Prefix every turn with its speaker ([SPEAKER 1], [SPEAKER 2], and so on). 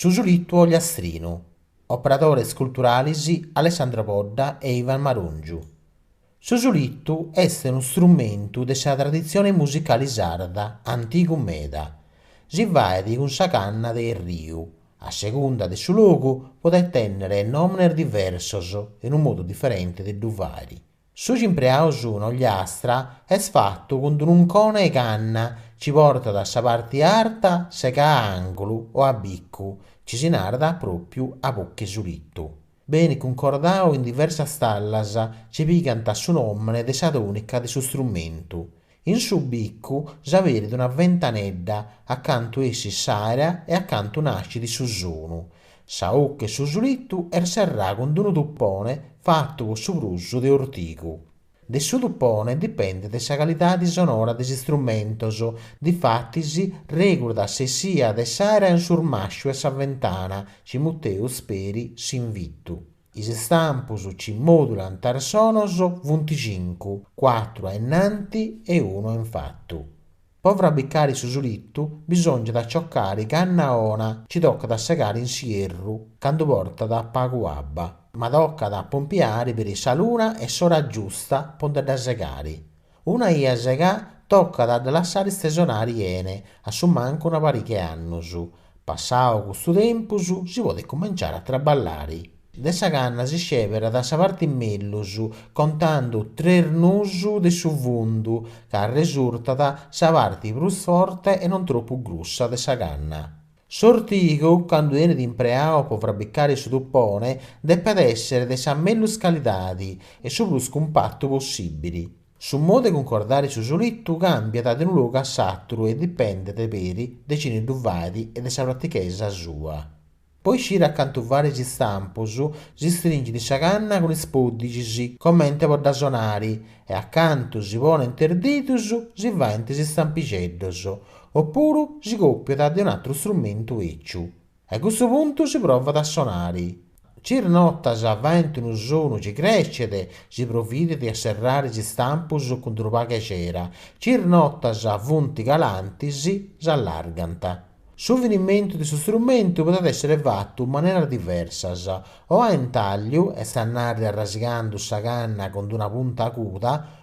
[SPEAKER 1] Su Sulittu Ogliastrinu, operadores culturales Alessandro Podda e Ivan Marongiu. Su sulittu est unu strumentu de sa traditzione musicale sarda antigu meda. Si faet cun sa canna de erriu, a segunda de su logu podet tènnere nòmenes diversos e unu modu diferente de ddu fàere, Su ci impreaus in Ogliastra est fatu cun d'un'uncone 'e canna, ci portat a sa parti arta segà a angulu o a bicu, ci si narat pròpiu a buca 'e sulittu. Benit cuncordau in diversas tallas, ci pigant su nòmene de sa tònica de su strumentu. In su bicu s'aberit una ventanedda a cantu essit s'aera e a cantu nascit su sonu. Sa 'occa 'e su sulittu est serrà cun d'unu tuppone fattu po su prus de ortigu. De su tuppone dipendet sa calidadi sonora de is istrumentos, difatis regulat sa essia de s'aera in s'urmasciu 'e sa ventana, ci muteus peri s'invittu. Is istampus ci modulant is sonos, funt cincu, cuatru a innanti e unu a infatu. Po frabbicari su sulittu bisòngiat a ciocari canna ona, ci tocat a segari in s'ierru candu portat pagu abba, ma tocat a pompiari peri sa luna e s'ora giusta po nde dda segari. Una 'ia segà tocat a dda lassare istesonare 'ene a su mancu una pariga 'e annos. Passau custu tempus si podet cumenciare a traballare. De sa canna si sceberat sa parte mellus, contando tres nus de su fundu, ca arresurtat sa parte prus forte e non tropu grussa de sa canna. S'ortigu, candu benit impreau po frabbicare su tupone, depet èssere de sa mellus calidade e su prus cumpatu possìbile. Su modu de cuncordare su sulitu càmbiat de unu logu a s'àteru e dipendet, peri, de cine ddu fait e de sa pratichesa sua. Po iscire a cantu fàere is istampos, si stringit sa canna cun is pòddigis, comente po dda sonare, e a cantu si ponent is didus si faint is istampixeddos, O puru si còpiat de un'atru strumentu èciu. A custu puntu si provat a sonare. Ci is notas faent unu sonu ci crèscet, si providet a serrare is istampus cun unu pagu 'e cera, ci is notas funt calantis, s'allargant. Su finimentu de su strumentu podet èssere fatu in maneras diversas, o a intàlliu, est a nàrrere arrasigando sa canna cun una punta aguda,